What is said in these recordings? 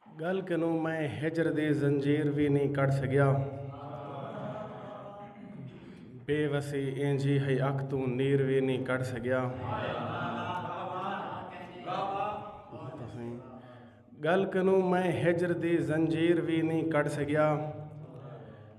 گل کنوں میں ہجر دی زنجیر وی نی کڈھ سگیا بے وسی اینجھی ہئی اکھ توں نیر وی نی کڈھ سگیا گل کنوں میں ہجر دی زنجیر وی نی کڈھ سگیا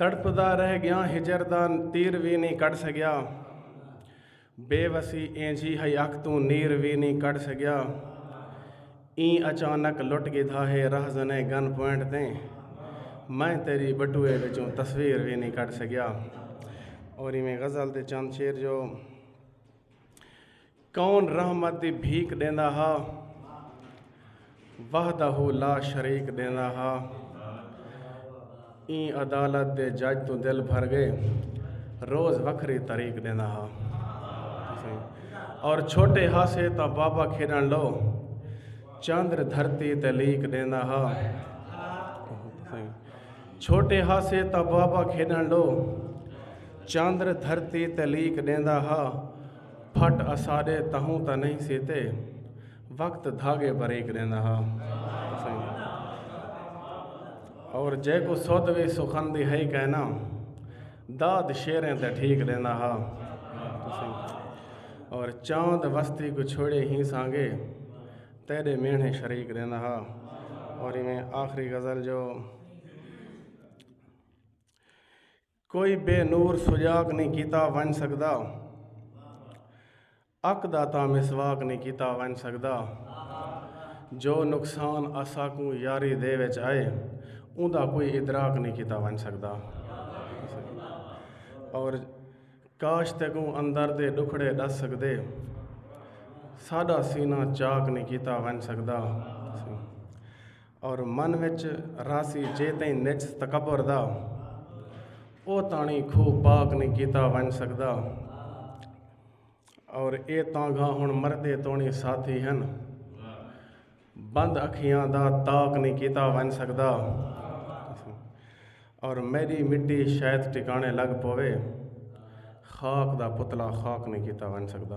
تڑپدا رہ گیاں ہجر دا تیر وی نی کڈھ سگیا بے وسی اینجھی ہئی اکھ توں نیر وی نی کڈھ سگیا ایں اچانک لٹ گدھا ہے رہزنے گن پوائنٹ تے میں تیری بٹوئے وچوں تصویر وی نی کڈھ سگیا اور میں غزل تے چند شیر جو کون رحمت دی بھیک ݙیندا ہا وحدہ لا شریک ݙیندا ہا ایں عدالت دے جج توں دل بھر گئے روز وکھری طریق ݙیندا ہا اور چھوٹے ہاسے تاں بابا کھیݙن لو چندر دھرتی تے لیک ݙیندا ہا چھوٹے ہاسے تاں بابا کھیݙن لو چندر دھرتی تے لیک ݙیندا ہا پھٹ اساڈے تہوں تاں نہیں سی تے وقت دھاگے بریک ڈیندا ہا اور جے کو سودھ وی سخن دی ہئی کہنا داد شیریں تے ٹھیک ڈیندا ہا اور چاند وستی کو چھوڑے ہی سانگے تیرے میڑھے شریک رہنا ہا اور میں آخری غزل جو کوئی بے نور سجاک نہیں کیتا ونج سکدا اک دا تاں مسواک نہیں کیتا ونج سکدا جو نقصان اساکوں یاری دے وچ آئے اون دا کوئی ادراک نہیں کیتا ونج سکدا اور کاش تے کوں اندر دے ڈکھڑے ڈس سکدے ساڈا سینہ چاک نہیں کیتا ونج سکدا اور من وچ راسی جے تئیں نچ تکبر دا او تانی کھو پاک نہیں کیتا ونج سکدا اور اے تانگا ہن مردے تونی ساتھی ہن بند اکھیاں دا تاک نہیں کیتا ونج سکدا اور میری مٹی شاید ٹکانے لگ پوے خاک دا پتلا خاک نہیں کیتا ونج سکدا